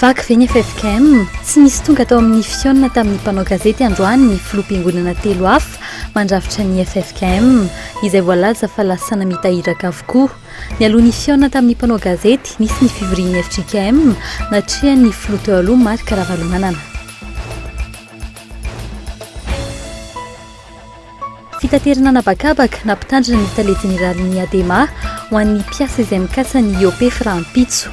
Vaky ve ny ffkm? Tsy nisy tonga tao amin'ny fihaonana tamin'ny mpanao gazety androany ny filoham-piangonana telo hafa mandrafitra ny ffkm, izay voalaza fa lasa namita iraka avokoa. Nialoha ny fihaonana tamin'ny mpanao gazety, nisy ny fivorian'ny fjkm, natrehan'ny filoha teo aloha Marc Ravalomanana. Fitaterana an'habakabaka na mpitandrina ny Tale Jeneralin'ny Adema ho an'ny mpiasa izay mikasa ny hiopefy rahampitso.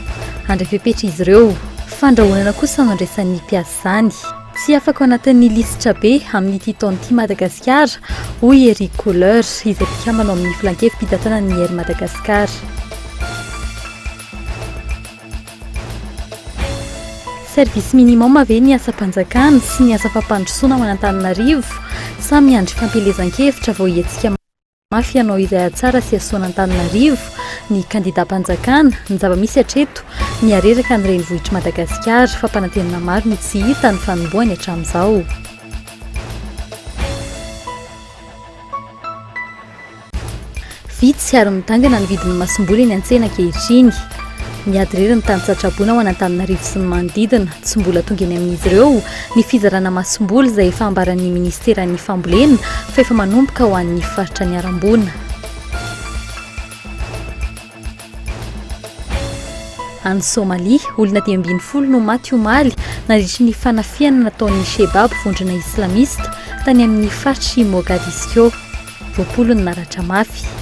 Handray fepetra izy ireo. Fandrahonana kosa no andraisan'ny mpiasa izany. Tsy afaka ao anatin'ny lisitra be amin'ity taona ity Madagasikara, hoy Eric Kohler, izay mpikambana ao amin'ny Filankevi-pitantanan'ny Air Madagascar. Service minimum ve ny asam-panjakana sy ny asa fampandrosoana ao an'Antananarivo? Sa miandry fampielezan-kevitra vao hihetsika mafy hanao izay hahatsara sy hahasoa an'Antananarivo ny kandidam-panjakana? Ny zava-misy hatreto, mihareraka ny renivohitr'i Madagasikara, fampanantenana maro no tsy hita ny fanombohany hatramin'izao. Vitsy ary midangana ny vidin'ny masomboly eny an-tsena ankehitriny. Miady irery ny tany tsatrabona ao Anantananarivo sy ny manodidina. Tsy mbola tonga eny amin'izy ireo ny fizarana masomboly izay efa ambaran'ny minisiteran'ny fambolena fa efa manomboka ho an'ny faritra niharam-boina. Any Somalia, olona dimy ambin'ny folo no maty omaly nandritry ny fanafihana nataon'ny Shebab vondrona islamista tany amin'ny faritr'i Mogadiscio. Roapolo no naratra mafy.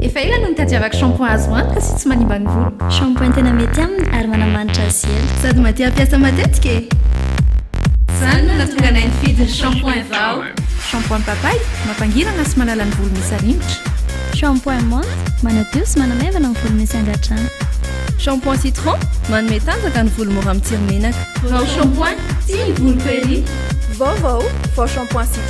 Efa ela no nitadiavako shampoing azo antoka sy tsy manimba ny voloko. Shampoing tena mety aminy ary manamanitra azy ela. Sady mahatia hampiasa matetika e! Izany no nahatonga anay nifidy ny shampoing vao. Shampoing papay, mampangirana sy manala ny volo misy arimotra. Shampoing menthe, manadio sy manamaivana ny volo misy angadrano. Shampoing citron, manome tanjaka ny volo mora mitsiry menaka. Vao shampoing, tia ny voloko ery! Vaovao, vao shampoing citron.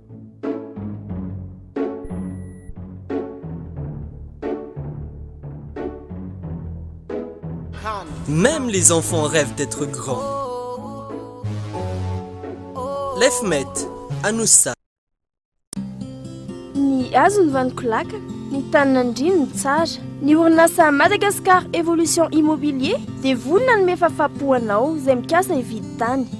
Même les enfants rêvent d'être grand Lef met Anoussa. Ny hazo ny vaniko laka, ny tany nandriany ny tsara. Ny orinasa Madagascar Evolution Immobilier dia vonona hanome fahafahampo anao izay mikasa hividy tany.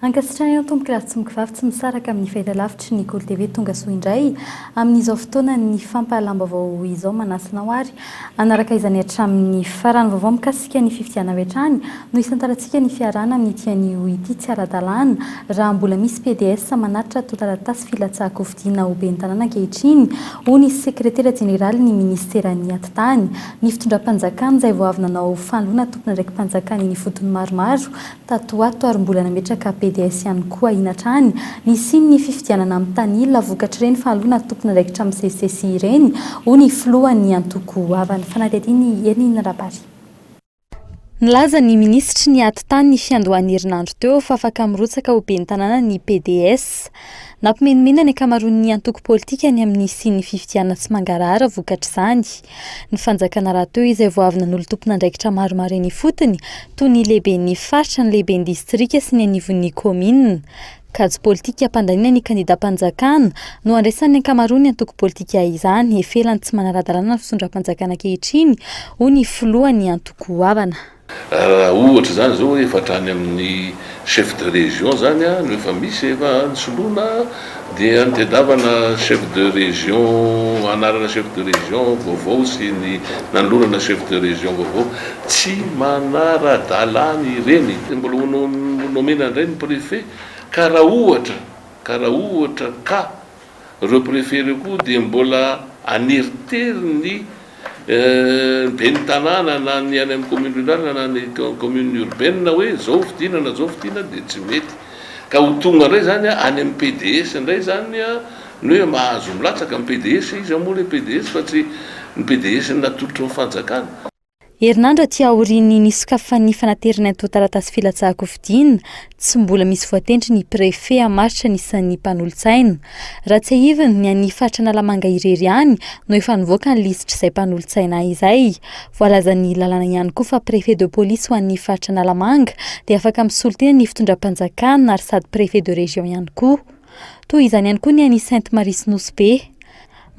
Ankasitrahana ny tompokolahy sy tompokivavy tsy misaraka amin'ny fahitalavitry ny Gol TV tongasoa indray amin'izao fotoana ny fampahalam-baovao izao manasa anao ary Hanaraka izany hatramin'ny farany. Vaovao mikasika ny fifidianana avy hatrany no hisantarantsika ny fiarahana amin'ity anio ity. Tsy ara-dalàna raha mbola misy PDS manatitra antontan-taratasy filatsahan-kofidiana ho ben'ny tanàna ankehitriny, hoy ny sekretera jeneralin'ny minisiteran'ny Atitany. Ny fitondram-panjakana izay vao avy nanao fanoloana tompon'andraiki-panjakana eny ifotony maromaro tato ho ato ary mbola nametraka BDS ihany koa ahiana hatrany ny hisian'ny fifidianana amin'ny tanila vokatr'ireny fahaloana tompon'andraikitra misesisesy ireny, hoy ny filohan'ny antoko ava. Ny fanadihadian'i Hermine Rabary. Nilaza ny minisitry ny Atitany ny fiandohan'ny herinandro teo fa afaka mirotsaka ho ben'ny tanàna ny BDS. Nampimenimena ny ankamaroan'ny antoko politika ny amin'ny hisian'ny fifidianana tsy mangarahara vokatr'izany. Ny fanjakana rahateo izay vao avy nanolo tompon'andraikitra maromaro eny ifotony, toy ny lehiben'ny faritra, ny lehiben'ny distrika sy ny anivon'ny kaominina. Kajy politika hampandaniana ny kandidam-panjakana no andraisan'ny ankamaroan'ny antoko politika izany, efa ela no tsy manara-dalàna ny fitondram-panjakana ankehitriny, hoy ny filohan'ny antoko goavana. Raha ohatra izany izao hoe efa hatrany amin'ny chef de région izany no efa misy efa ny soloana dia ny tedavana chef de région anarana chef de région vaovao sy ny nanolorana chef de région vaovao tsy manara-dalàna ireny dia mbola ho nomena indray ny préfet ka raha ohatra ka raha ohatra ka Ireo préfet ireo koa dia mbola haneritery ny ben'ny tanàna na ny any amin'ny commune rurale na ny commune urbaine hoe izao fidinana izao fidinana dia tsy mety. Ka ho tonga indray izany any amin'ny PDS indray izany ny hoe mahazo milatsaka ny PDS izy moa ilay PDS fa tsy ny PDS natolotry ny fanjakana. Herinandro aty aorian'ny nisokafan'ny fanaterana antontan-taratasy filatsahan-kofidiana, tsy mbola misy voatendry ny Préfet hamaritra ny isan'ny mpanolotsaina. Raha tsiahivina, ny an'ny faritra Analamanga irery ihany no efa nivoaka ny lisitr'izay mpanolotsaina izay. Voalazan'ny lalàna ihany koa fa Préfet de Police ho an'ny faritra Analamanga dia afaka misolo tena ny fitondram-panjakana ary sady Préfet de Région ihany koa. Toa izany ihany koa ny an'i Sainte Marie sy Nosy Be.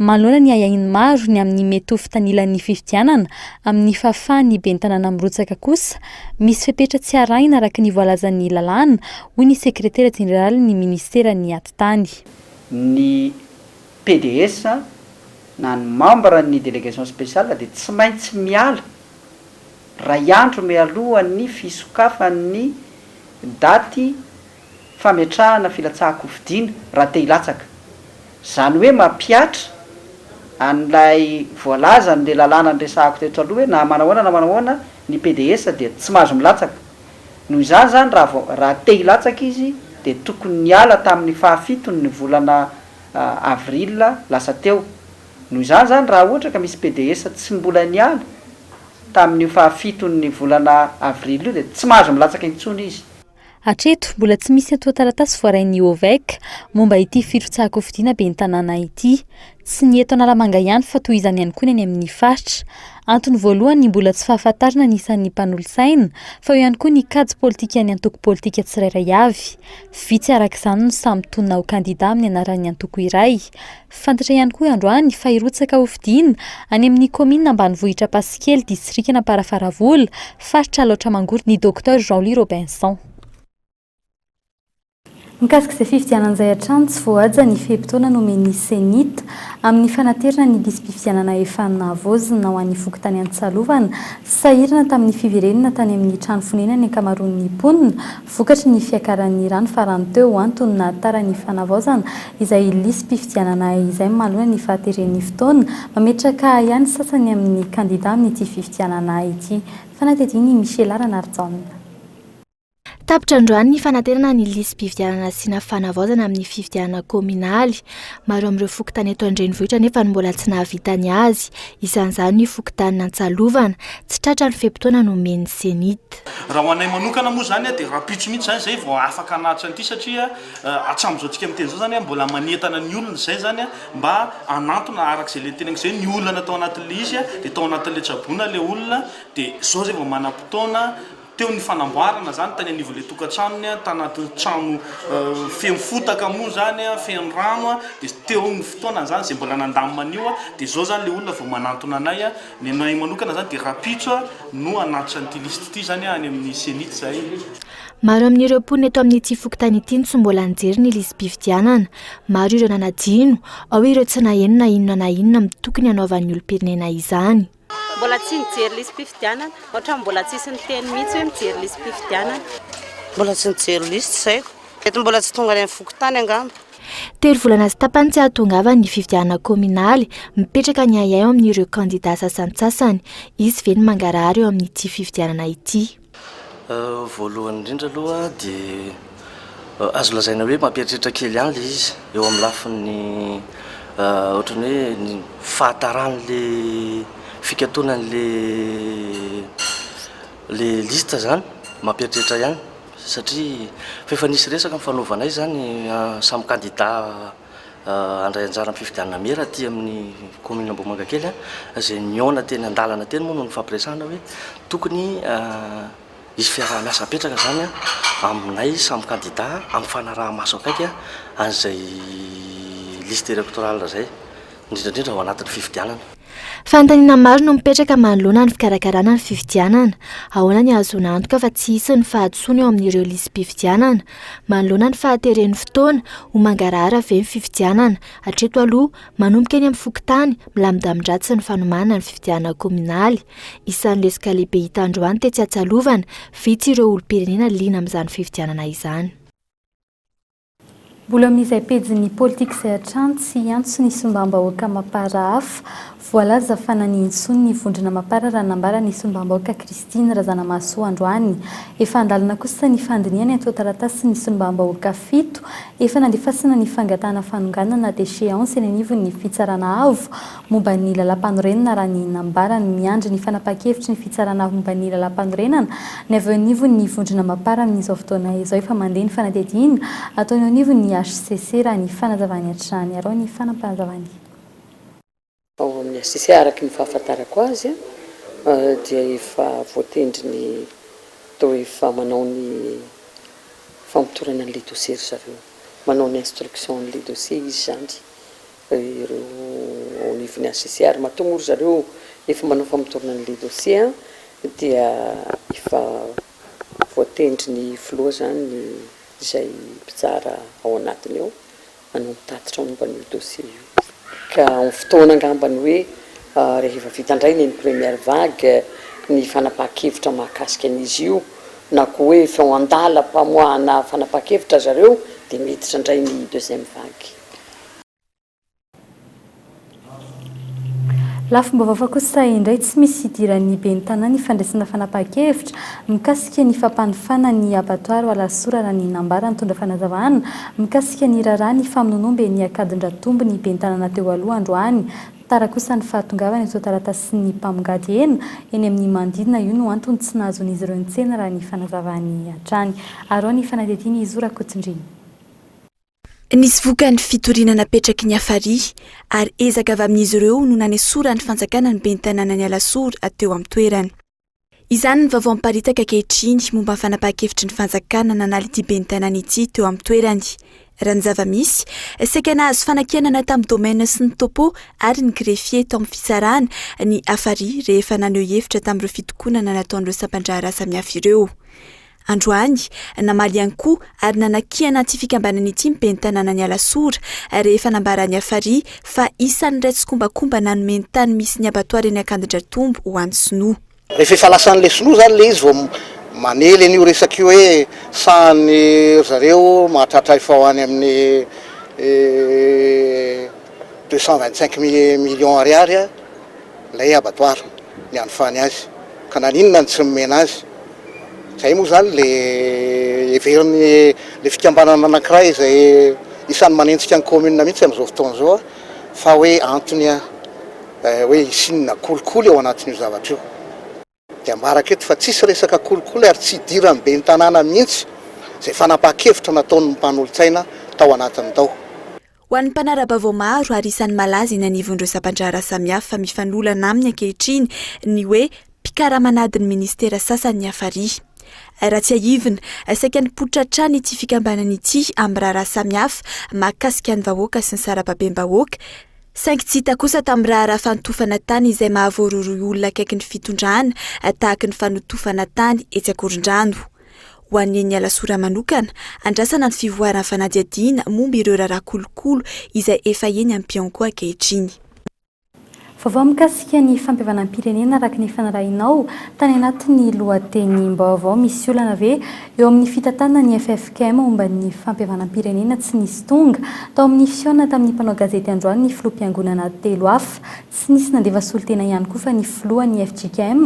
Manohana ny ahiahin'ny maro ny amin'ny mety ho fitanilan'ny fifidianana amin'ny fahafahan'ny ben'ny tanàna mirotsaka kosa, misy fepetra tsy arahina araka ny voalazan'ny lalàna, hoy ny sekretera jeneralin'ny ministeran'ny atitany. Ny PDS na ny mambra ny délégation spéciale dia tsy maintsy miala iray andro mialohan'ny fisokafan'ny daty fametrahana filatsahan-kofidina raha te hilatsaka. Izany hoe mampihatra an'ilay voalaza an'ilay lalàna niresahako teto aloha hoe na manao ahoana na manao ahoana ny PDS dia tsy mahazo milatsaka. Noho izany izany raha vao raha te hilatsaka izy dia tokony niala tamin'ny fahafiton'ny volana avril lasa teo. Noho izany izany raha ohatra ka misy PDS tsy mbola niala tamin'io fahafiton'ny volana avril io dia tsy mahazo milatsaka intsony izy. Hatreto, mbola tsy misy antontan-taratasy voarain'ny OVEC momba ity firotsahan-kofidina ben'ny tanàna ity. Tsy ny eto Analamanga ihany fa toy izany ihany koa ny any amin'ny faritra. Antony voalohany ny mbola tsy fahafantarana ny isan'ny mpanolotsaina fa eo ihany koa ny kajy politikan'ny antoko politika tsirairay avy. Vitsy araka izany no samy tonina ho kandida amin'ny anaran'ny antoko iray. Fantatra ihany koa androany fa hirotsaka hofidiana any amin'ny kaominina ambanivohitra Ampasikely distrikan'Amparafaravola, faritra Alaotra Mangoro ny Docteur Jean Louis Robinson. Mikasika izay fifidianana izay hatrany tsy voahaja ny fe-potoana nomen'ny Cenit amin'ny fanaterana ny lisi-pifidianana efa nahavoazina ho an'ny fokontany Antsalovana, sahirana tamin'ny fiverenana tany amin'ny trano fonenan'ny ankamaroan'ny mponina, Vokatry ny fiakaran'ny rano farany teo, antony nahatara ny fanavaozana izay lisi-pifidianana izay manoloana ny fahateren'ny fotoana, mametraka ahiahy ny sasany amin'ny kandidà amin'ity fifidianana ity. Fanadihadian'i Michela Ranarijaona. Tapitra androany ny fanaterana ny lisi-pifidianana sy na fanavaozana amin'ny fifidianana kaominaly. Maro amin'ireo fokontany eto an-drenivohitra anefa no mbola tsy nahavita ny azy, isan'izany ny fokontanin'Antsalovana. Tsy tratra ny fe-potoana nomen'ny Cenit. Raha ho anay manokana moa izany dia rahampitso mihitsy izany izay vao afaka hanaja an'ity satria hatramin'izao antsika miteny izao izany mbola manentana ny olona izay izany mba hanantona araka izay ilay teneniko izay ny olana tao anatin'ilay izy dia tao anatin'ilay tsaboina ilay olona dia izao izay vao manam-potoana teo ny fanamboarana izany tany anivon'ilay tokantranony tanaty trano feno fotaka moa izany feno rano dia teo ny fotoana izany izay mbola nandamina an'io dia izao izany ilay olona vao manantona anay Ny anay manokana izany dia rahampitso no hanatitra an'ity lisitra ity izany any amin'ny ceni tsy zahay. Maro amin'ireo mponina eto amin'ity fokontany ity no tsy mbola nijery ny lisi-pifidianana. Maro ireo nanadino, ao ireo tsy naheno na inona na inona amin'ny tokony hanaovan'ny olom-pirenena izany. Mbola tsy nijery lisi-pifidianana. Ohatran'ny mbola tsisy niteny mihitsy hoe mijery lisi-pifidianana. Mbola tsy nijery lisitra izay ko. Mety mbola tsy tonga any amin'ny fokontany angamba. Telo volana sy tapany tsy hahatongavany ny fifidianana kaominaly, mipetraka ny ahiahy eo amin'ireo kandidà sasantsasany. Hisy ve ny mangarahara eo amin'ity fifidianana ity? Voalohany indrindra aloha dia azo lazaina hoe mampieritreritra kely ihany ilay izy eo amin'ny lafiny ohatran'ny hoe ny fahataran'ilay fikatonan'ilay liste izany, mampieritreritra ihany. satria fa efa nisy resaka nifanaovanay izany samy kandida handray anjara amin'ny fifidianana mera aty amin'ny kaominina Ambohimangakely, izay nihaona teny an-dalana teny moa no nifampiresahana hoe tokony hisy fiaraha-miasa hapetraka izany aminay samy kandida amin'ny fanaraha-maso akaiky an'izay liste électorale izay. indrindra indrindra ao anatin'ny fifidianana. Fanontaniana maro no mipetraka manoloana ny fikarakarana ny fifidianana. Ahoana ny ahazoana antoka fa tsy hisy ny fahadisoana eo amin'ireo lisi-pifidianana? Manoloana ny fahateren'ny fotoana, ho mangarahara ve ny fifidianana? Hatreto aloha, manomboka eny amin'ny fokontany, milamindamin-dratsy ny fanomahana ny fifidianana kaominaly. Isan'ny lesoka lehibe hita androany tetsy Atsialovana, vitsy ireo olom-pirenena liana amin'izany fifidianana izany. Mbola amin'izay pejin'ny politika izay hatrany tsy hiantso ny sombambahoaka Mapara hafa. Voalaza fa nanihintsony ny vondrona Mapara raha nambara ny sombambahoaka Christine Razanamahasoa androany. Efa an-dalana kosa ny fandinihana ny antontan-taratasin'ny sombambahoaka fito efa nandefasana ny fangatahana fanonganana déchéance eny anivon'ny Fitsarana Avo momba ny Lalàmpanorenana raha ny nambarany. Miandry ny fanapahan-kevitry ny Fitsarana momba ny Lalàmpanorenana ny avy eo anivon' ny Vondrona Mapar amin' izao fotoana izao efa mandeha ny fanadihadiana ataony eo anivon' ny hcc raha ny fanazavany hatrany. Arao ny fanapanazavany. Ao amin' ny hcc araka ny fahafantarako azy dia efa voatendry ny atao hoe efa manao ny famotorana an' ilay dosie ry zareo. Manao ny instruction an' ilay dosie izy izany. ireo ao anivon'ny HCCR matoa moa ry zareo efa manao famotorana an'ilay dossier dia efa voatendry ny filoha izany izay mpitsara ao anatiny ao hanao ny tatitra momba an'io dossier io ka amin'ny fotoana angambany hoe rehefa vita indray ny première vague ny fanapahan-kevitra mahakasika an'izy io na koa hoe efa handala mpamoahana fanapahan-kevitra ry zareo dia miditra indray ny deuxième vague. Lafim-baovao hafa kosa indray tsy misy idiran'ny ben'ny tanàna ifandraisana fanapahan-kevitra mikasika ny fampanofana ny abattoir ho alasora raha ny nambaran'ny nitondra fanazavana mikasika ny raharaha ny famononomben'ny akadin-dRatombo ny ben'ny tanàna teo aloha androany tara kosa ny fahatongavany eto taratasin'ny mpamongady hena eny amin'ny manodidina io no antony tsy nahazoan'izy ireo nitsena raha ny fanazavany hatrany Arao ny fanadihadiana i Zo Rakotondriana. Nisy vokany fitoriana napetraky ny Afari, ary ezaka avy amin'izy ireo no nanesoran'ny fanjakana ny ben'ny tanànan'i Alasora teo amin'ny toerany. Izany ny vaovao miparitaka ankehitriny momba ny fanapahan-kevitry ny fanjakana nanala ity ben'ny tanàna ity teo amin'ny toerany. Raha ny zava-misy, saika nahazo fanakianana tamin'ny domaine sy ny topo ary ny greffier tao amin'ny fitsarana ny Afari rehefa naneho hevitra tamin'ireo fitokonana nataon'ireo sampan-draharaha samihafa ireo. Androany, namaly ihany koa ary nanakiana ity fikambanana ity ny ben'ny tanànan'i Alasora, rehefa nambaran'i Hafari fa isan'ilay tsikombakomba nanome ny tany misy ny abattoir eny Ankadindratombo ho an'ny sinoa. Rehefa efa lasan'ilay sinoa izany ilay izy vao mamely an'io resaka io hoe sahanin'ny ry zareo mahatratra efa ho any amin'ny deux cent vingt-cinq millions ariary. Ilay abattoir nianofany azy ka naninona no tsy nomena azy. Izay moa izany ilay heverin'ny ilay fikambanana anankiray izay isan'ny manenjika ny commune mihitsy amin'izao fotoana izao fa hoe antony hoe hisian'ny kolikoly ao anatin'io zavatra io. Dia ambarako eto fa tsisy resaka kolikoly ary tsy idiran'ny ben'ny tanàna mihitsy izay fanapahan-kevitra nataon'ny mpanolotsaina tao anatiny tao. Ho an'ny mpanara-baovao maro ary isan'ny malaza eny anivon'ireo sampan-draharaha samihafa mifanolana aminy ankehitriny ny hoe mpikarama an'adin'ny ministera sasany ny hafarihy. Raha tsiahivina, saika nipoitra hatrany ity fikambanana ity amin'ny raharaha samihafa mahakasika ny vahoaka sy ny sarababem-bahoaka, Saingy tsy hita kosa tamin'ny raharaha fanotofana tany izay mahavoarohirohy olona akaiky ny fitondrana tahaka ny fanotofana tany etsy Ankorondrano. Ho an'i Neny Alasora manokana, andrasana ny fivoaran'ny fanadihadiana momba ireo raharaha kolokolo izay efa eny am-pianko ankehitriny. Vaovao mikasika ny fampihavanam-pirenena araka ny fanarahinao tany anatin'ny lohatenim-baovao, misy olana ve Eo amin'ny fitantanana ny ffkm momba ny fampihavanam-pirenena tsy nisy tonga tao amin'ny fihaonana tamin'ny mpanao gazety androany ny filoham-piangonana telo hafa. Tsy nisy nandefa solontena ihany koa fa ny filohan'ny fjkm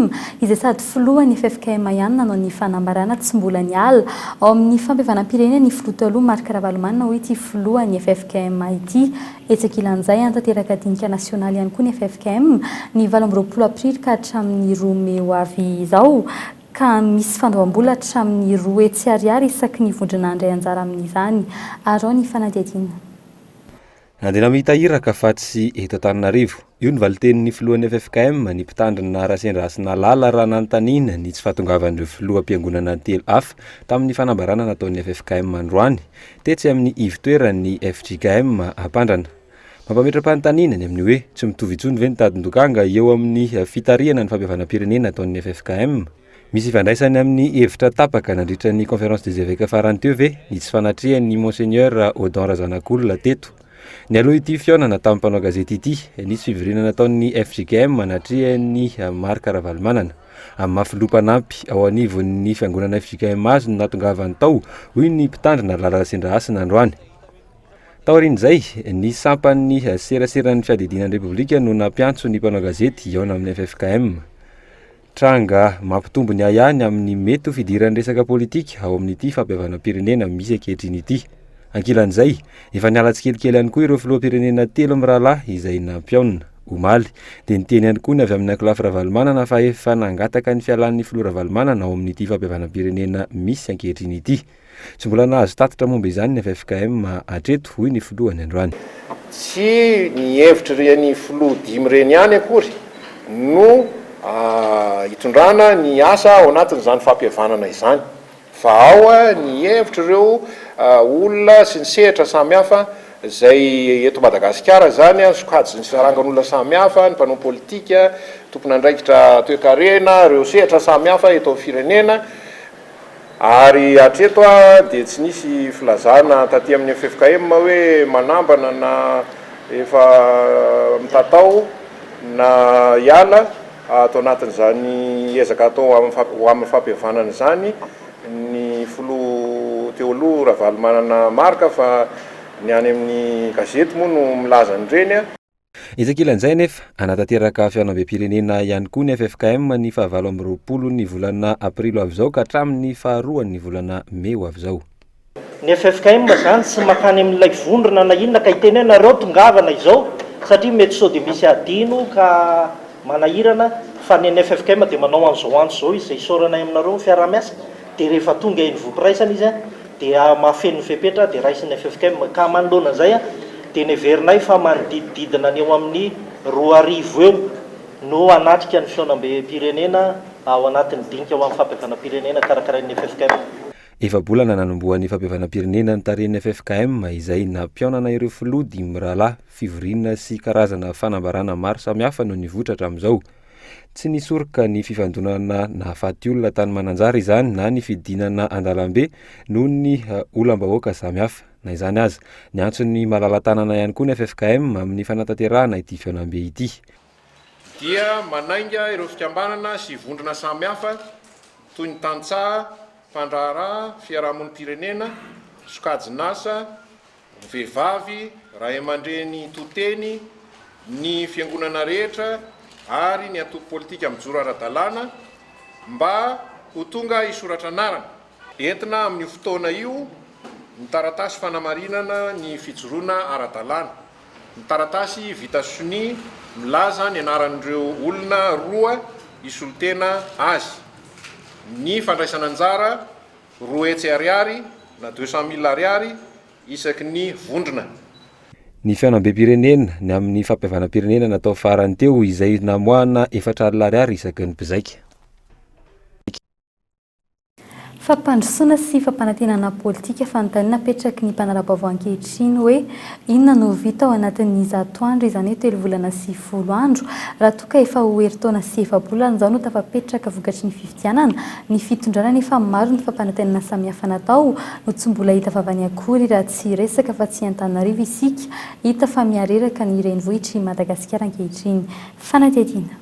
izay sady filohan'ny ffkm ihany nanao ny fanambarana tsy mbola niala ao amin'ny fampihavanam-pirenena ny filoha taloha Marc Ravalomanana hoy ity filohan'ny ffkm ity. Etsy ankilan'izay hanatanteraka dinika nasionaly ihany koa ny ffkm ny valo amby roapolo aprily ka hatramin'ny roa mey ho avy izao. ka misy fandoambola hatramin'ny roa hetsy ariary isaky ny vondrona handray anjara amin'izany. Arao ny fanadihadiana. Nandeha namita iraka fa tsy eto Antananarivo. Io ny valintenin'ny filohan'ny ffkm, ny mpitandrina Rasendra Hasinalala raha nanontaniana ny tsy fahatongavan'ireo filoham-piangonana telo hafa tamin'ny fanambarana nataon'ny ffkm androany tetsy amin'ny ivo-toeran'ny fjkm Ampandrana. Mampametra-panontaniana ny amin'ny hoe, tsy mitovy intsony ve ny tadin-dokanga eo amin'ny fitarihana ny fampihavanam-pirenena ataon'ny ffkm? Misy ifandraisany amin'ny hevitra tapaka nandritra ny Conférence des Evêques farany teo ve ny tsy fanatrehan'ny Monseigneur Odon Razanakolona teto? Nialoha ity fihaonana tamin'ny mpanao gazety ity, nisy fivoriana nataon'ny fjkm anatrehan'i Marc Ravalomanana, amin'ny maha filoha mpanampy ao anivon'ny fiangonana fjkm azy no nahatongavany tao, hoy ny mpitandrina lalana Sindrahasina androany. Taorian'izay, ny sampan'ny seraseran'ny fiadidiana ny Repoblika no nampiantso ny mpanao gazety hihaona amin'ny ffkm. Tranga mampitombo ny ahiahy ny amin'ny mety ho fidiran'ny resaka politika ao amin'ity fampihavanam-pirenena misy ankehitriny ity. Ankilan'izay, efa niala tsikelikely ihany koa ireo filoham-pirenena telo mirahalahy izay nampihaona. Omaly, dia niteny ihany koa ny avy amin'ny ankolafy Ravalomanana fa efa nangataka ny fialan'ny filoha Ravalomanana ao amin'ity fampihavanam-pirenena misy ankehitriny ity. Tsy mbola nahazo tatitra momba izany ny ffkm hatreto, hoy ny filoha ny androany. Tsy ny hevitr'ireny filoha dimy ireny ihany akory no hitondrana ny asa ao anatin'izany fampihavanana izany fa ao ny hevitr'ireo olona sy ny sehatra samihafa izay eto Madagasikara izany, sokajin'ny sarangan'olona samihafa, ny mpanao politika, tompon'andraikitra toekarena, ireo sehatra samihafa eto amin'ny firenena. Ary hatreto dia tsy nisy filazana taty amin'ny ffkm hoe manambana na efa mitatao na hiala ato anatin'izany ezaka atao ho amin'ny fampihavanana izany ny filoha teo aloha Ravalomanana Marc fa ny any amin'ny gazety moa no milaza an'ireny. Etsy ankilan'izay anefa, hanatanteraka fihaonambem-pirenena ihany koa ny ffkm ny fahavalo amby roapolon'ny volana aprily ho avy izao ka hatramin'ny faharoan'ny volana mey ho avy izao. Ny ffkm izany tsy mankany amin'ilay vondrona na inona ka hiteny hoe nareo tongava na izao satria mety sao dia misy adino ka manahirana fa ny an'ny ffkm dia manao an'izao andro izao izy izay isaoranay aminareo ny fiaraha-miasa dia rehefa tonga eny voampiraisana izy dia mahafeno ny fepetra dia raisin'ny ffkm, ka manoloana izay dia neverinay fa manodidididina ny eo amin'ny roa arivo eo no hanatrika ny fihaonambem-pirenena ao anatin'ny dinika ho amin'ny fampihavanam-pirenena karakarain'ny ffkm. Efa-bolana nanombohan'ny fampihavanam-pirenena notarihin'ny ffkm izay nampihaonana ireo filoha dimy mirahalahy, fivoriana sy karazana fanambarana maro samihafa no nivoitra hatramin'izao. Tsy nisoroka ny fifandonana nahafaty olona tany Mananjary izany na ny fidinana an-dalambe noho ny olam-bahoaka samihafa. Na izany aza, niantso ny malala-tanana ihany koa ny ffkm amin'ny fanatanterahana ity fihaonambe ity. dia manainga ireo fikambanana sy vondrona samihafa toy ny tantsaha, mpandraharaha, fiarahamonim-pirenena, sokajin'asa, Vehivavy, Ray aman-dreny to-teny, ny Fiangonana rehetra ary ny antoko politika mijoro ara-dalàna mba ho tonga hisoratra anarana. Entina amin'io fotoana io ny taratasy fanamarinana ny fijoroana ara-dalàna. Ny taratasy vita sonia milaza ny anaran'ireo olona roa hisolo-tena azy. Ny fandraisana anjara Roa hetsy ariary na deux cent mille ariary isaky ny vondrona. Ny fihaonambem-pirenena, ny amin'ny fampihavanam-pirenena natao farany teo, izay namoahana efatra alina ariary isaky ny mpizaika. Fampandrosoana sy fampanantenana politika fanontaniana apetraky ny mpanara-baovao ankehitriny hoe inona no ho vita ao anatin'ny zato andro, izany hoe telo volana sy folo andro, raha toa ka efa ho herintaona sy efa-bolana izao no tafapetraka vokatry ny fifidianana Ny fitondrana anefa maro ny fampanantenana samihafa natao no tsy mbola hita vavany akory raha tsy hiresaka fa tsy Antananarivo isika hita fa mihareraka ny renivohitr i Madagasikara ankehitriny. Fanadihadiana.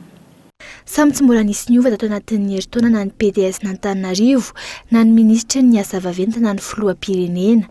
Samy tsy mbola nisy niova tato anatin'ny herintaona na ny PDS-n'Antananarivo na ny minisitry ny asa vaventy na ny filoham-pirenena.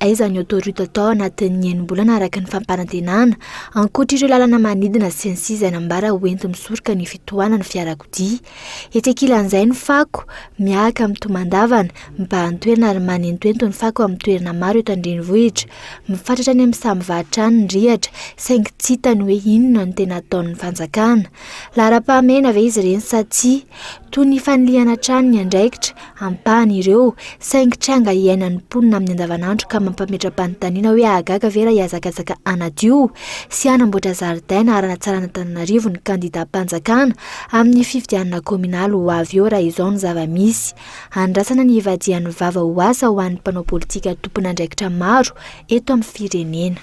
Aiza ny autoroute atao anatin'ny enim-bolana araka ny fampanantenana, ankoatra ireo lalana manidina sy ny sisa izay nambara ho enti-misoroka ny fitohanan'ny fiarakodia. Etsy ankilan'izay ny fako, miahaka amin'ny tomandavana, mibahan-toerana ary manentoento ny fako amin'ny toerana maro eto an-drenivohitra. Mifatratra any amin'ny samy varotra any ny rihatra, saingy tsy hita ny hoe inona no tena ataon'ny fanjakana. Laharam-pahamehana ve izy ireny sa tsia? Toy ny fanilihana hatrany ny andraikitra. ampahany ireo, saingy tranga iainan'ny mponina amin'ny andavanandro ka mampametra-panontaniana hoe hahagaga ve raha hihazakazaka hanadio sy hanamboatra zaridaina ary hanatsaràn'Antananarivo ny kandidàm-panjakana amin'ny fifidianana kaominaly ho avy eo raha izao ny zava-misy. Andrasana ny hivadihan'ny vava ho asa ho an'ny mpanao politika tompon'andraikitra maro eto amin'ny firenena.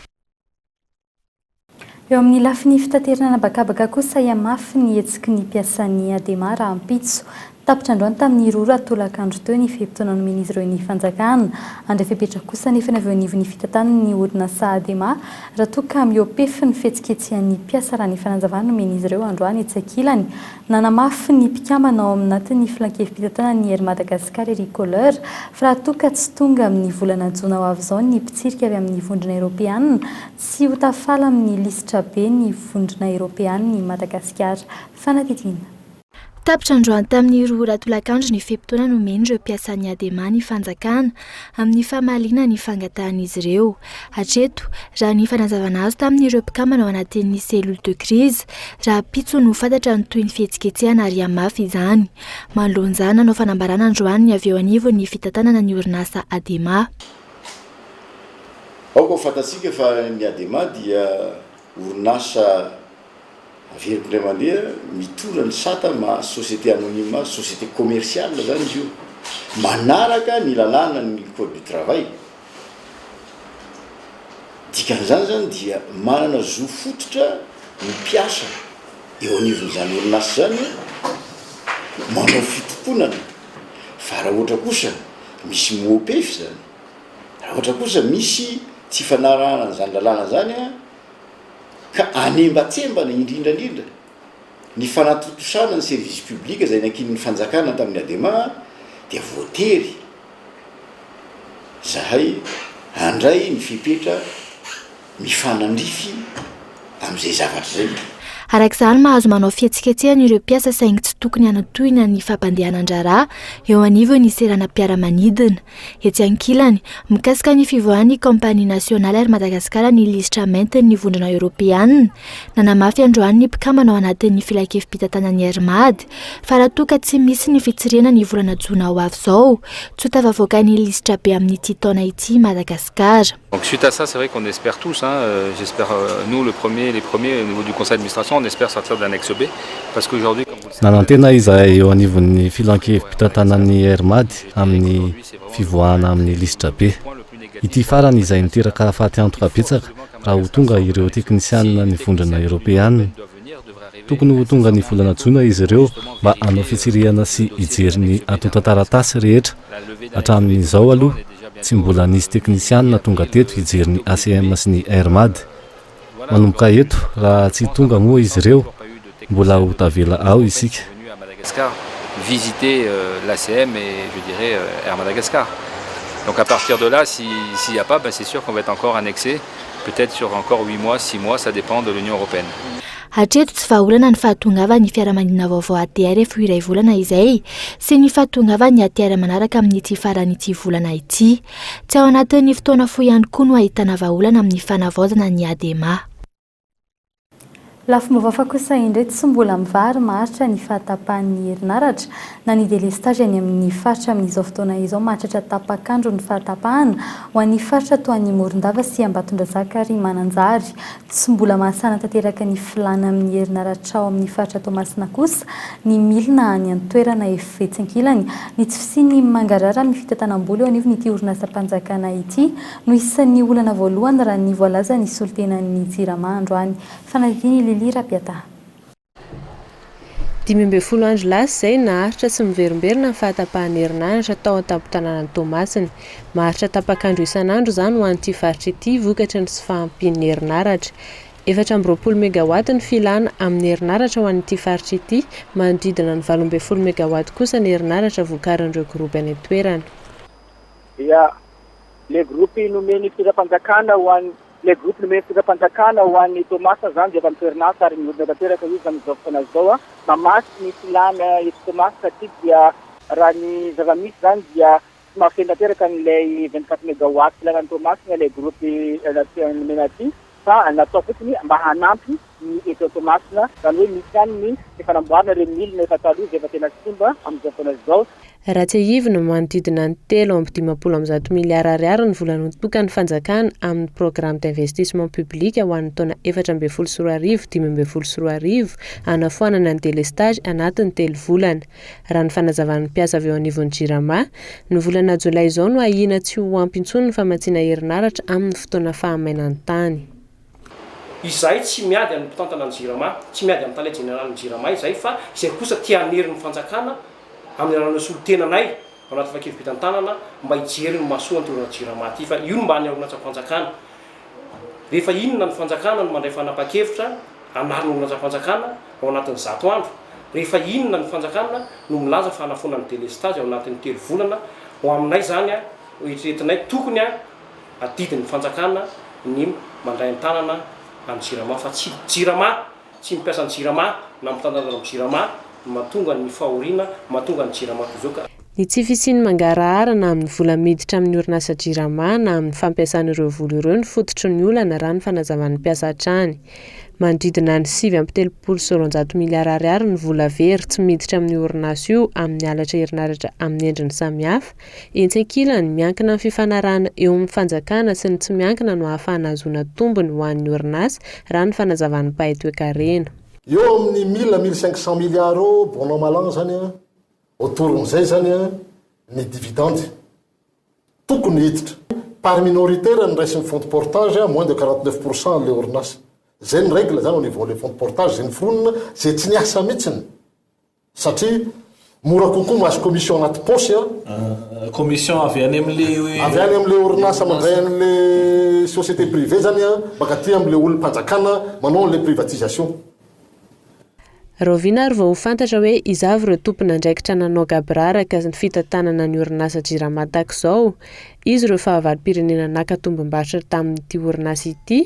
Eo amin'ny lafiny fitaterana an'habakabaka kosa ahiahy mafy ny hetsiky ny mpiasan'ny Adema rahampitso. Tapitra androany tamin'ny rora tolakandro teo ny fe-potoana nomen'izy ireo ny fanjakana. Handray fepetra kosa anefa ny avy eo anivon'ny fitantanan'ny orinasa Adema raha toa ka mihoa-pefy ny fihetsiketsehan'ny mpiasa raha ny fanazavana nomen'izy ireo androany etsy ankilany. Nanamafy ny mpikambana ao aminatin'ny Filankevi-pitantanana ny Air Madagascar Eric Kohler fa raha toa ka tsy tonga amin'ny volana jona ho avy izao ny mpitsirika avy amin'ny Vondrona Eropeanina, tsy ho tafala amin'ny lisitra be ny Vondrona Eropeanina i Madagasikara. Fanadihadiana. Tapitra androany tamin'ny roa ora tolakandro ny fe-potoana nomen'ireo mpiasan'ny Adema ny fanjakana. amin'ny famaliana ny fangatahan'izy ireo. Hatreto, raha ny fanazavana azo tamin'ireo mpikambana ao anatin'ny cellule de crise, rahampitso no fantatra ny tohin'ny fihetsiketsehana ary hihamafy izany. Manoloana izany, nanao fanambarana androany ny avy eo anivon'ny fitantanana ny orinasa Adema. Aoka ho fantatsika fa ny Adema dia orinasa. Averiko indray mandeha, mitondra ny sata ma société anonyme azy, société commerciale izany izy io, manaraka ny lalàna ny code du travail. Dikan'izany izany dia manana zo fototra ny mpiasa eo anivon'izany orinasa izany manao fitokonana fa raha ohatra kosa misy mopef izany, raha ohatra kosa misy tsy fanarahana an'izany lalàna izany a. ka anembatsembana indrindra indrindra ny fanatontosana ny service public izay nankinin'ny fanjakana tamin'ny Adema dia voatery izahay handray ny fepetra mifanandrify amin'izay zavatra izay. Araka izany, mahazo manao fihetsiketsehana ireo mpiasa saingy tsy tokony hanatohina ny fampandehanan-draharaha eo anivon'ny seranam-piaramanidina. Etsy ankilany, mikasika ny fivoahan'ny Compagnie Nationale Air Madagascar ny lisitra maintin'ny Vondrona Eoropeana, nanamafy androany ny mpikambana ao anatin'ny Filankevi-pitantanan'ny Air Mad, fa raha toa ka tsy misy ny fitsirihana ny volana jona ho avy izao, tsy ho tafavoaka ny lisitra be amin'ity taona ity i Madagasikara. Donc suite à ça c'est vrai qu'on espère tous hein, j'espère nous le premier, les premiers au niveau du conseil d'administration on espère sortir de l'annexe B parce qu'aujourd'hui comme vous le savez. Nanantena izahay eo anivon'ny filan-kevi-pitantanan'ny RMAD amin'ny fivoahana amin'ny lisitra B. Ity farany izay niteraka faty antoka betsaka raha ho tonga ireo teknisianina nivondrona eropeanina. Tokony ho tonga ny volana jona izy ireo mba hanao fitsirihana sy hijery ny antontan-taratasy rehetra. Hatramin'izao aloha, tsy mbola nisy teknisianina tonga teto hijery ny ACM sy ny Air Mad. Manomboka eto, raha tsy tonga moa izy ireo, mbola ho tavela ao isika. venu à Madagascar visiter l'ACM et je dirais Air Madagascar donc à partir de là si s'il n'y a pas c'est sur qu'on va être encore annexé peut être sur encore huit mois six mois ça dépend de l'Union européenne. Hatreto tsy vahaolana ny fahatongavan'ny fiaramanidina vaovao ATR efa ho iray volana izay sy ny fahatongavan'ny ATR manaraka amin'ity faran'ity volana ity. Tsy ao anatin'ny fotoana fohy ihany koa no ahitana vahaolana amin'ny fanavaozana ny ADEMA. Lafim-baovao hafa kosa indray, tsy mbola mivary maharitra ny fahatapahan'ny herinaratra na ny delestage any amin'ny faritra amin'izao fotoana izao. Mahatratra tapak'andro ny fahatapahana ho an'ny faritra toa an'i Morondava sy Ambatondrazaka ary Mananjary. Tsy mbola mahasana tanteraka ny filàna amin'ny herinaratrao amin'ny faritra Toamasina kosa ny milina any an-toerana. Efa etsy ankilany ny tsy fisian'ny mangarahara amin'ny fitantanam-bola eo anivon'ity orinasam-panjakana ity. no isan'ny olana voalohany raha ny voalazan'ny solontenan'ny Jirama androany. Fanadihadian'i Lily Rapiataha. Dimy ambin'ny folo andro lasa izay, naharitra tsy miverimberina ny fahatapahan'ny herinaratra tao an-tampon-tanànan'i Toamasina. Maharitra tapak'andro isan'andro izany ho an'ity faritra ity, vokatry ny tsy fahampian'ny herinaratra. Efatra amby roapolo megawatt ny filàna amin'ny herinaratra ho an'ity faritra ity, manodidina ny valo ambin'ny folo megawatt kosa ny herinaratra vokarin'ireo groupe any an-toerana. dia Le groupe nomen'ny fitondram-panjakana ho an'ny Le groupe nomen'ny fitondram-panjakana ho an'i Toamasina izany dia efa miverin-asa ary mihodina tanteraka izy amin'izao fotoana izao an! Mamatsy ny filàna eto Toamasina satria dia raha ny zava-misy izany dia tsy mahafeno tanteraka an'ilay vingt-quatre megawatts filàna any Toamasina ilay groupe nomena aty. fa natao fotsiny mba hanampy ny eto Toamasina, izany hoe misy ihany ny efa namboarina ireo milina efa taloha izay efa tena simba amin'izao fotoana izao. Raha tsiahivina, manodidina ny telo amby dimampolo amby zato miliara ariary ny vola notokan'ny fanjakana amin'ny programme d'investissement public ho an'ny taona efatra ambin'ny folo sy roa arivo dimy ambin'ny folo sy roa arivo hanafoanana ny délestage anatin'ny telo volana. Raha ny fanazavan'ny mpiasa avy eo anivon'ny Jirama, ny volana jolay izao no ahiana tsy ho ampy intsony ny famatsiana herinaratra amin'ny fotoana fahamainan'ny tany. Izahay tsy miady amin'ny mpitantana ny Jirama, tsy miady amin'ny tale jeneralin'ny Jirama izahay fa izay kosa te hanery ny fanjakana amin'ny alalan'ireo solontenanay ao anaty trakefa be tantanana mba hijery ny mahasoa an'ity orinasa Jirama ity fa io no mba ny orinasam-panjakana Rehefa inona ny fanjakana no mandray fanapahan-kevitra hanarina ho lanjam-panjakana ao anatin'ny zato andro? Rehefa inona ny fanjakana no milaza fa hanafoana ny delestazy ao anatin'ny telo volana? Ho aminay izany eritreretinay tokony adidin'ny fanjakana ny mandray an-tanana an'ny jirama fa tsy jirama Tsy mampiasa ny jirama na mitandahantandahana amin'ny jirama no mahatonga ny fahoriana mahatonga ny jirama toy izao ka. Ny tsy fisian'ny mangarahara na amin'ny vola miditra amin'ny orinasa jirama na amin'ny fampiasana ireo vola ireo no fototry ny olana raha ny fanazavan'ny mpiasa hatrany. Manodidina ny sivy amby telopolo sy roanjato miliara ariary ny vola very tsy miditra amin'io orinasa io amin'ny halatra herinaratra amin'ny endriny samihafa Etsy ankilany, miankina amin'ny fifanarahana eo amin'ny fanjakana sy ny tsy miankina no ahafahana ahazoana tombony ho an'ny orinasa, raha ny fanazavan'ny mpahay toekarena. Eo amin'ny mille à mille cinq cent milliards eo bon an mal an izany an, autour an'izay izany an, ny dividende tokony hiditra. Part minoritaire no raisin'ny fonds de portage an, moins de quarante neuf pour cent an'ilay orinasa. Izay ny règle izany au niveau an'ilay fonds de portage, izay noforonina, izay tsy niasa mihitsiny. Satria mora kokoa mahazo commission anaty paosy an. Commission avy any amin'le. Avy any amin'le orinasa mandray an'le société privée zany an, mankaty amin'le olom-panjakana manao an'le privatisation. Rahoviana ary vao ho fantatra hoe iza avy ireo tompon'andraikitra nanao gaboraraka ny fitantanana ny orinasa Jirama tahaka izao? Iza ireo fahavalom-pirenena naka tombom-barotra tamin'ity orinasa ity?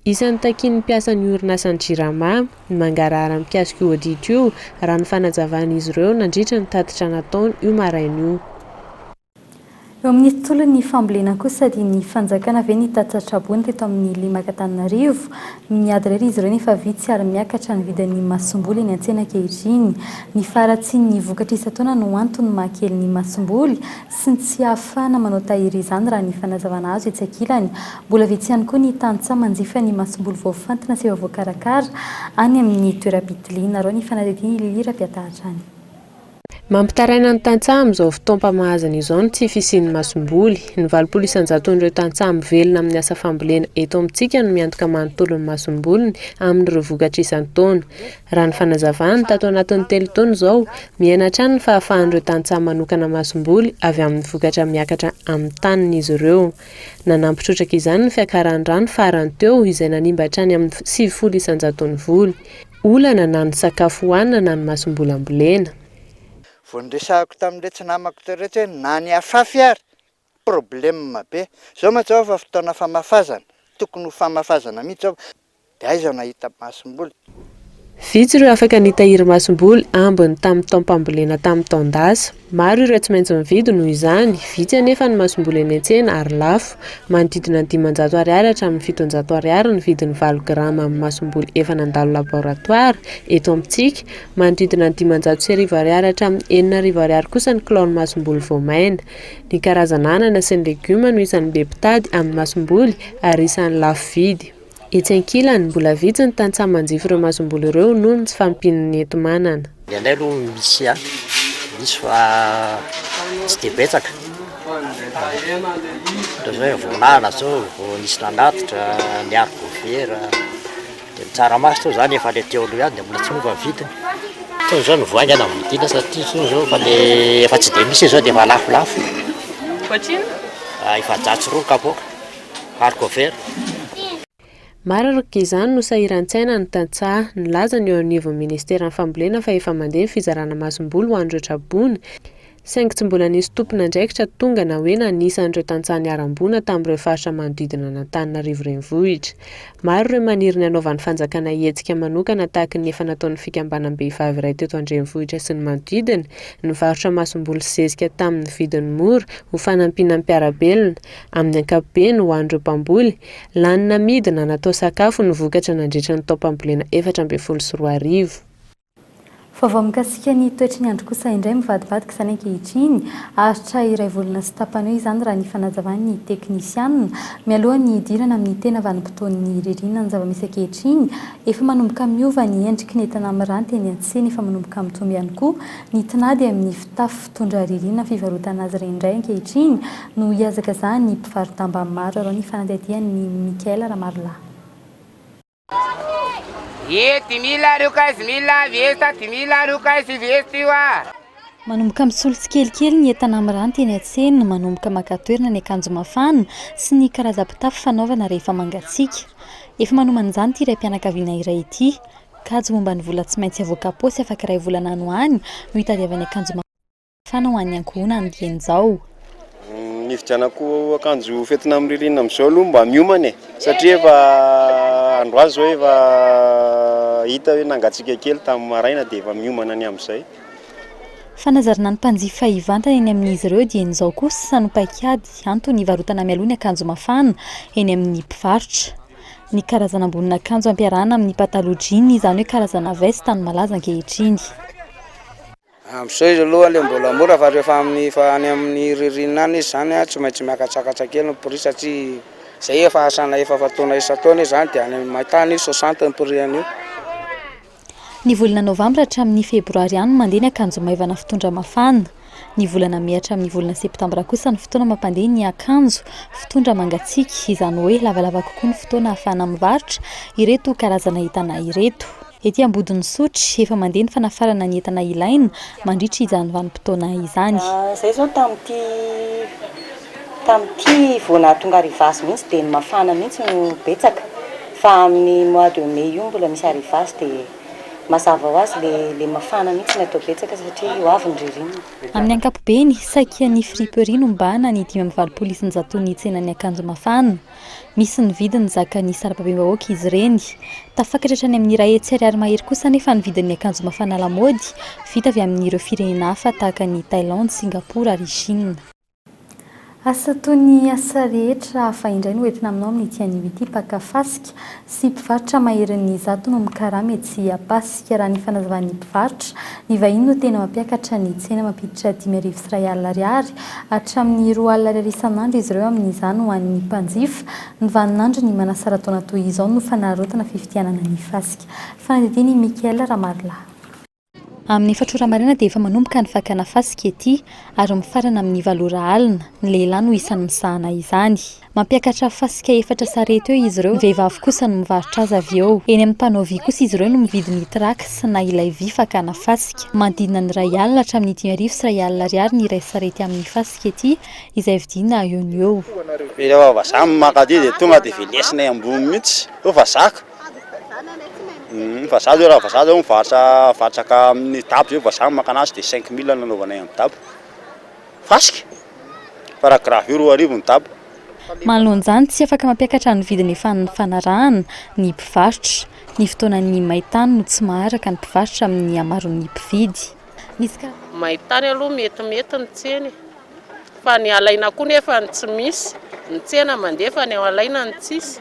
Isan'ny takian'ny mpiasan'ny orinasan'ny Jirama ny mangarahara mikasika io audit io, raha ny fanazavan'izy ireo nandritra ny tatitra nataony io maraina io. Eo amin'ny tontolon'ny fambolena kosa dia ny fanjakana ve ny tatitra traboina teto amin'ny lemaka-Antananarivo? Miady irery izy ireo nefa vitsy ary miakatra ny vidin'ny masomboly eny an-tsena ankehitriny. Ny faharatsian'ny vokatra isan-taona no antony mahakely ny masomboly. sy ny tsy ahafahana manao tahiry izany raha ny fanazavana azo etsy ankilany. Mbola vitsy ihany koa ny tantsaha manjifa ny masomboly voafantina sy efa voakarakara any amin'ny toeram-pitiliana. Arao ny fanadihadian'i Lily Rafiatahatra any. Mampitaraina ny tantsaha amin'izao fotoam-pamahazana izao ny tsy fisian'ny masomboly. Ny valopolo isan-jaton'ireo tantsaha mivelona amin'ny asa fambolena eto amintsika no miantoka manontolo ny masomboliny amin'ireo vokatra isan-taona. Raha ny fanazavany, tato anatin'ny telo taona izao, miaina hatrany ny fahafahan'ireo tantsaha manokana masomboly avy amin'ny vokatra miakatra amin'ny taniny izy ireo. Nanampy trotraka izany ny fiakaran'ny rano farany teo izay nanimba hatrany amin'ny sivifolo isan-jaton'ny voly. Olana na ny sakafo hohanina na ny masomboly ambolena. Vao niresahako tamin'iretsy namako iretsy hoe na ny afafy ary probleme be, zao mantsy zao efa fotoana famafazana, tokony ho famafazana mihitsy zao, de aiza no ahita masomboly? Vitsy ireo afaka nitahiry masomboly ambiny tamin'ny taom-pambolena tamin'ny taon-dasa. Maro ireo tsy maintsy nividy noho izany, vitsy anefa ny masomboly eny an-tsena ary lafo. Manodidina ny dimanjato ariary hatramin'ny fitonjato ariary ny vidin'ny valo grama amin'ny masomboly efa nandalo laboratoara eto amintsika, manodidina ny dimanjato sy arivo ariary hatramin'ny enina arivo ariary kosa ny kilaon'ny masomboly voamaina. Ny karazana anana sy ny legioma no isan'ny be mpitady amin'ny masomboly ary isan'ny lafo vidy. Etsy ankilany, mbola vitsy ny tantsaha manjify ireo masomboly ireo noho ny tsy fahampian'ny enti-manana. Ny anay aloha misy ihany, misy fa tsy dia betsaka. Ohatr'izao hoe voalala izao, vao nisy nanatitra, niary goavera. Dia ny tsaramaso toa izany efa ilay teo aloha ihany dia mbola tsy miova ny vidiny. Tony izao ny voaingana no vidiana satria tony izao efa dia efa tsy dia misy izy izao dia efa lafolafo. Ohatrinona? Ah, efajato sy roa ny kapoaka, hardcover. Maro araka izany no sahiran-tsaina ny tantsaha. Nilaza ny eo anivon'ny ministeran'ny fambolena fa efa mandeha ny fizarana masomboly ho an'ireo tra-boina. saingy tsy mbola nisy tompon'andraikitra tonga na hoe nanisa an'ireo tantsaha niharam-boina tamin'ireo faritra manodidina an'Antananarivo Renivohitra. Maro ireo maniry ny hanaovan'ny fanjakana hetsika manokana tahaka ny efa nataon'ny fikambanam-behivavy iray teto an-drenivohitra sy ny manodidina, nivarotra masomboly sy zezika tamin'ny vidiny mora ho fanampiana ny mpiara-belona, amin'ny ankapobeny ho an'ireo mpamboly. Lany namidy na natao sakafo ny vokatra nandritra ny taom-pambolena efatra ambin'ny folo sy roa arivo. Vaovao mikasika ny toetry ny andro kosa indray mivadibadika izany ankehitriny. Aritra iray volana sy tapany eo izany raha ny fanazavan'ny teknisianina. Mialoha ny hidirana amin'ny tena vanim-potoan'ny ririnina ny zava-misy ankehitriny, efa manomboka miova ny endriky ny entana miranty eny an-tsena, efa manomboka mitombo ihany koa ny tinady amin'ny fitafy fitondra ririnina fivarotana azy ireny indray ankehitriny no hihazakazahan'ny mpivaro-damba maro arao ny fanadihadian'i Michael Ramarola. Ye dimy ila arivo kay sy mila viesta dimy ila arivo kay sy viesta io ah. Manomboka misolo tsikelikely ny entana miranty eny an-tsena, manomboka maka toerana ny akanjo mafana sy ny karazam-pitafy fanaovana rehefa mangatsiaka. Efa manomana izany ity raim-pianakaviana iray ity. Kajy momba ny vola tsy maintsy avoaka am-paosy afaky iray volana any ho any no hitadiavany akanjo mafana. Trano ho an'ny ankohonany dieny izao. Ny hividianako akanjo fetina amin'ny ririnina amin'izao aloha mba miomana e, satria efa androany izao efa hita hoe nangatsiaka kely tamin'ny maraina dia efa miomana ny amin'izay. Fanazarana ny mpanjifa hivantana eny amin'izy ireo dieny izao kosa sa no paik'ady antony hivarotana mialoha ny akanjo mafana eny amin'ny mpivarotra. Ny karazana ambonin'akanjo ampiarahana amin'ny pataloha jean, izany hoe karazana veste ny malaza ankehitriny. Amin'izao izy aloha dia mbola mora fa rehefa amin'ny efa any amin'ny ririnina any izy izany tsy maintsy miakatsakatsa kely ny prix satria izay efa asana efa fatoana isan-taona izy izany dia any amin'ny main-tany io soixante ny prix an'io. Ny volana novambra hatramin'ny febroary ihany no mandeha ny akanjo maivana fitondra mafana. Ny volana mey hatramin'ny volana septambra kosa no fotoana mampandeha ny akanjo fitondra mangatsiaka, izany hoe lavalava kokoa ny fotoana ahafahana mivarotra ireto karazana entana ireto. Ety Ambodin'Isotry, efa mandeha ny fanafarana ny entana ilaina mandritra izany vanim-potoana izany. Izay izao tamin'ity tamin'ity vao nahatonga arrivage mihitsy dia ny mafana mihitsy no betsaka fa amin'ny mois de mai io mbola misy arrivage dia mazava ho azy ilay ilay mafana mihitsy no atao betsaka satria ho avy ny ririnina. Amin'ny ankapobeny, saika ny friperie no mibahana ny dimy amby valopolo isan-jaton'ny tsenan'ny akanjo mafana. Misy ny vidiny zakan'ny sarababem-bahoaka izy ireny. Tafakatra hatrany amin'ny iray hetsy ariary mahery kosa anefa ny vidin'ny akanjo mafana lamaody vita avy amin'ireo firenena hafa tahaka an'i Thailandy, Singapour ary Chine. Asa toy ny asa rehetra hafa indray no entina aminao amin'ity anio ity, mpaka fasika. sy mpivarotra maherin'ny izato no mikarama etsy Ampasika. Raha ny fanazavan'ny mpivarotra, ny vahiny no tena mampiakatra ny tsena mampiditra dimy arivo sy iray alina ariary hatramin'ny roa alina ariary isan'andro izy ireo amin'izany ho an'ny mpanjifa. Ny vaninandron'ny manasara-taona toy izao no fanararaotana fifidianana ny fasika. Fanadihadian'i Michael Ramarilaha. Amin'ny efatra ora maraina dia efa manomboka ny fakana fasika ety ary mifarana amin'ny valo ora alina. Ny lehilahy no isan'ny misahana izany. Mampiakatra fasika efatra sarety eo izy ireo. Ny vehivavy kosa no mivarotra azy avy eo. Eny amin'ny mpanao vy kosa izy ireo no mividy ny tracks na ilay vy fakana fasika. Manodidina ny iray alina hatramin'ny dimy arivo sy iray alina ariary ny iray sarety amin'ny fasika ety izay vidiana eo no eo. Rehefa vazaha no mankaty dia tonga dia velesina eo ambony mihitsy. Eo vazaha ka. Humm fa za zao raha vazaha zao mivarotra vatraka amin'ny dabo zay vazaha no makana azy de cinq mille no anaovanay amin'ny dabo fasika fa raha gravio roa arivo ny dabo. Manoloana izany, tsy afaka mampiakatra ny vidiny efa nifanarahana ny mpivarotra. Ny fotoanan'ny main-tany no tsy maharaka ny mpivarotra amin'ny hamaroan'ny mpividy. Misy ka. Main-tany aloha metimety ny tsena e! Fa ny alaina koa nefa ny tsy misy. Ny tsena mandefa ny alaina ny tsisy.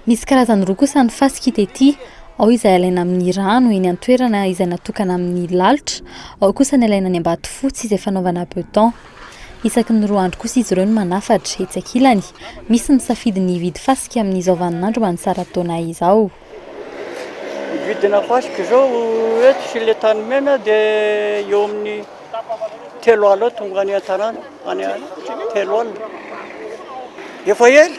Misy karazany roa kosa ny fasika hita ety, ao izay alaina amin'ny rano eny an-toerana izay natokana amin'ny lalitra, ao kosa ny alaina any Ambatofotsy izay fanaovana beton. Isaky ny roa andro kosa izy ireo no manafatra, etsy ankilany. Misy misafidy ny hividy fasika amin'izao vaninandro manintsara taona izao. Ny vidina fasika izao eto sy ilay tany mena dia eo amin'ny telo alina eo tonga any an-tanàna, any telo alina. Efa ela,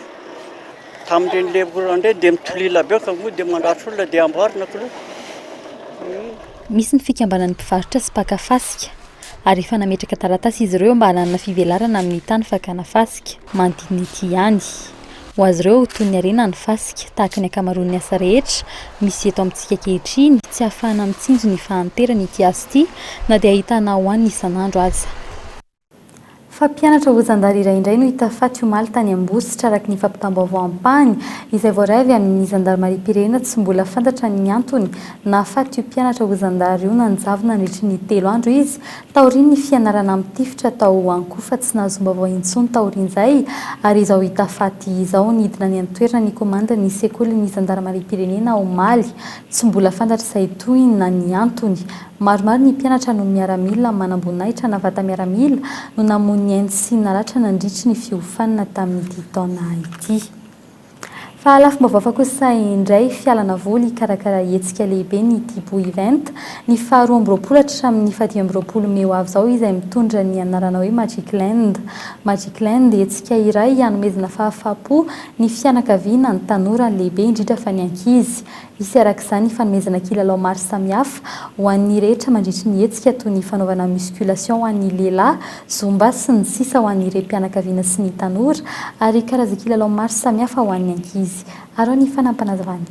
tamin'ireny ilay orana indray dia mitolila be ka moa dia mandratra olona dia amboarina kilo. Misy ny fikambanan'ny mpivarotra sy mpaka fasika ary efa nametraka taratasy izy ireo mba hananana fivelarana amin'ny tany fakana fasika. Mandinity ihany. Ho azy ireo, toy ny harena ny fasika, tahaka ny ankamaroan'ny asa rehetra misy eto amintsika ankehitriny, tsy ahafahana mitsinjo ny fahanterana ity asa ity, na dia ahitana ho an'ny isan'andro aza. Fa mpianatra ho zandary iray indray no hita faty omaly tany Ambositra, araka ny fampitam-baovao ampahany izay voaray avy amin'ny zandarimariam-pirenena, tsy mbola fantatra ny antony nahafaty io mpianatra ho zandary io, nanjavona nandritry ny telo andro izy Taorian'ny fianarana mitifitra tao Ankofa tsy nahazom-baovao intsony taorian'izay ary izao hita faty izao. Nidina any an-toerana ny komandin'ny sekolin'ny zandarimariam-pirenena omaly. Tsy mbola fantatra izay tohiny na ny antony. Maromaro ny mpianatra no miaramila manamboninahitra na vata-miaramila no namoy ny ainy sy naratra nandritry ny fiofanana tamin'ity taona ity. Fa lafim-baovao kosa indray, fialana voly hikarakara hetsika lehibe ny Tibo Event, ny faha roa amby roapolo hatramin'ny fahadimy amby roapolo mey ho avy izao izay mitondra ny anarana hoe Magic Land. Magic Land, hetsika iray hanomezana fahafaham-po ny fianakaviana, ny tanora, ny lehibe indrindra fa ny ankizy. Hisy araka izany ny fanomezana kilalao maro samihafa ho an'ny rehetra mandritry ny hetsika toy ny fanaovana musculation ho an'ny lehilahy, zumba sy ny sisa ho an'ny rem-pianakaviana sy ny tanora ary karazan-kilalao maro samihafa ho an'ny ankizy. Araho ny fanampanazavan'i.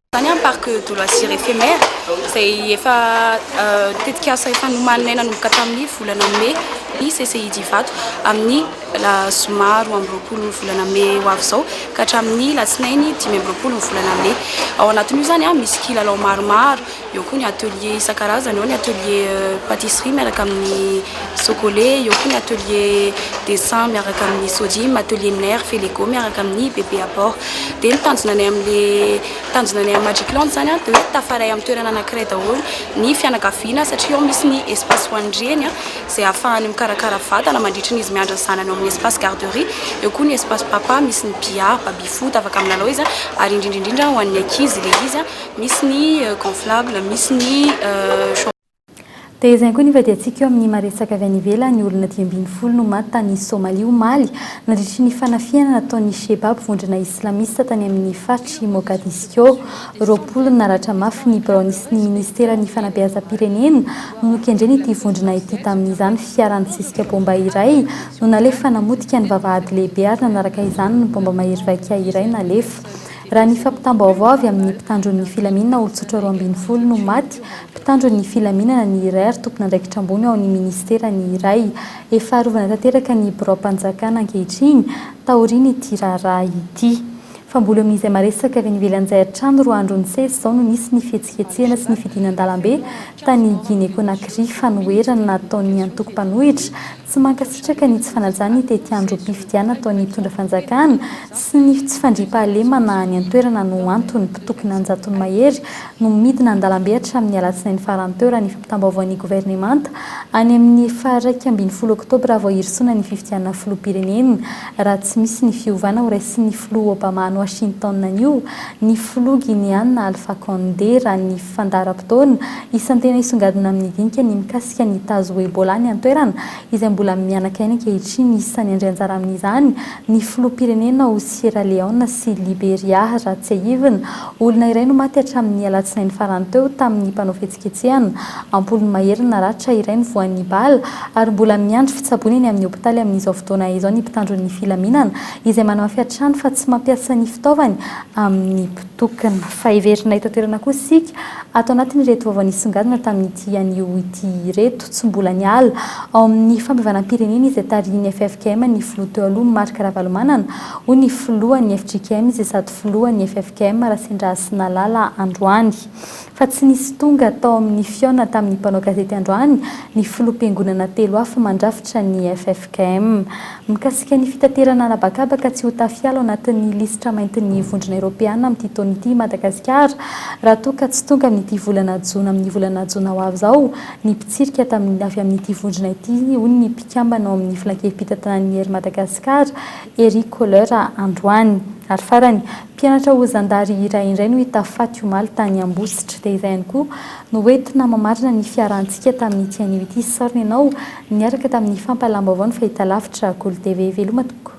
Izany amin'ny Parc de loisirs éphémère izay efa tetikasa efa nomaninay nanomboka tamin'ny volana mey ny CCID Ivato amin'ny. la zoma roa amby roapolo ny volana mey ho avy izao ka hatramin'ny latsinainy dimy amby roapolo ny volana mey. Ao anatin'io izany ah, misy kilalao maromaro, eo koa ny atelier isan-karazany, eo ny atelier euh, pâtisserie miaraka amin'ny sokole, eo koa ny atelier dessin miaraka amin'ny sodim, atelier nerf et lego miaraka amin'ny bébé à bord. Dia ny tanjona anay amin'le tanjona anay amin'ny Magic Land izany ah, dia hoe tafaray amin'ny toerana anankiray daholo ny fianakaviana satria ao misy ny espace ho an'ny reny ah, izay ahafahany mikarakara vatana mandritry ny izy miandry ny zanany ao amin'ny espace garderie, eo koa ny espace papa misy ny billard, baby foot afaka milalao izy ary indrindra indrindra ho an'ny ankizy ilay izy misy ny gonflable, misy ny. Dia izay koa ny hivadihantsika eo amin'ny maha-resaka avy any ivelany, olona dimy ambin'ny folo no maty tany Somalia omaly nandritry ny fanafihana nataon'ny Shebab, vondrona islamista tany amin'ny faritr'i Mogadiscio. Roapolo naratra mafy ny biraony sy ny minisiteran'ny fanabeazam-pirenena no nokendrena ity vondrona ity tamin'izany fiara nisisika baomba iray no nalefa namotika ny vavahady lehibe ary nanaraka izany ny baomba mahery vaika iray nalefa raha ny fampitam-baovao avy amin'ny mpitandron'ny filaminana olon-tsotra roa ambin'ny folo no maty mpitandron'ny filaminana ny iray ary tompon'andraikitra ambony ao amin'ny minisitera ny iray efa arovana tanteraka ny biraom-panjakana ankehitriny taorian'ity raharaha ity Fa mbola eo amin'izay maresaka avy any ivelan'izay hatrany roa andro nisesy izao no nisy ny fihetsiketsehana sy ny fidinan-dalambe tany Guinée-Conakry fanoherana nataon'ny antoko mpanohitra tsy mankasitraka ny tsy fanajana ny tetiandrom-pifidianana ataon'ny mpitondra fanjakana sy ny tsy fandriampahalemana any an-toerana no antony mpitokona an-jatony mahery no midina an-dalambe hatramin'ny alatsinainy farany teo raha ny fampitam-baovaon'ny governemanta any amin'ny faha-iraika ambin'ny folo oktobra vao hirosoana ny fifidianana filoham-pirenena Raha tsy misy ny fiovana ho raisin'ny filoha Obama any Washington anio, ny filoha Gineana Alpha Condé, raha ny fandaharam-potoana, isan'ny tena hisongadina amin'ny dinika ny mikasika ny tazo ho Ebola any an-toerana, izay mbola mihanaka aina ankehitriny. Isan'ny handray anjara amin'izany ny filoham-pirenena ao Sierra Leone sy Liberia, raha tsiahivina, Olona iray no maty hatramin'ny alatsinainy farany teo tamin'ny mpanao fihetsiketsehana. Am-polony mahery ny naratra, iray ny voan'ny bala, ary mbola miandry fitsaboana eny amin'ny hopitaly amin'izao fotoana izao ny mpitandro ny filaminana, izay manamafy hatrany fa tsy mampiasa ny fitaovany amin'ny mpitokona. Fa heverina eto an-toerana kosa isika, ato anatin'ireto vaovao nisongadina tamin'ity anio ity ireto, tsy mbola niala ao amin'ny fampihavanam-pirenena izay tarihin'ny ffkm ny filoha teo aloha Marc Ravalomanana, hoy ny filohan'ny fjkm izay sady filohan'ny ffkm Rasendrasinalala androany. Fa tsy nisy tonga tao amin'ny fihaonana tamin'ny mpanao gazety androany ny filoham-piangonana telo hafa mandrafitra ny ffkm. Mikasika ny fitaterana an'habakabaka tsy ho tafiala ao anatin'ny lisitra maintin'ny vondrona eropeana amin'ity taona ity i Madagasikara raha toa ka tsy tonga amin'ity volana jona amin'ny volana jona ho avy izao ny mpitsirika avy amin'ity vondrona ity hoy ny mpikambana ao amin'ny filankevim-pitantanan'ny Air Madagascar Eric Kohler androany. Ary farany, mpianatra ho zandary iray indray no hita faty omaly tany Ambositra. Dia izay ihany koa no hoentina mamarana ny fiarahantsika tamin'ity anio ity. Sorry ianao niaraka tamin'ny fampahalam-baovaon'ny fahitalavitra Golo TV. Veloma tompoko.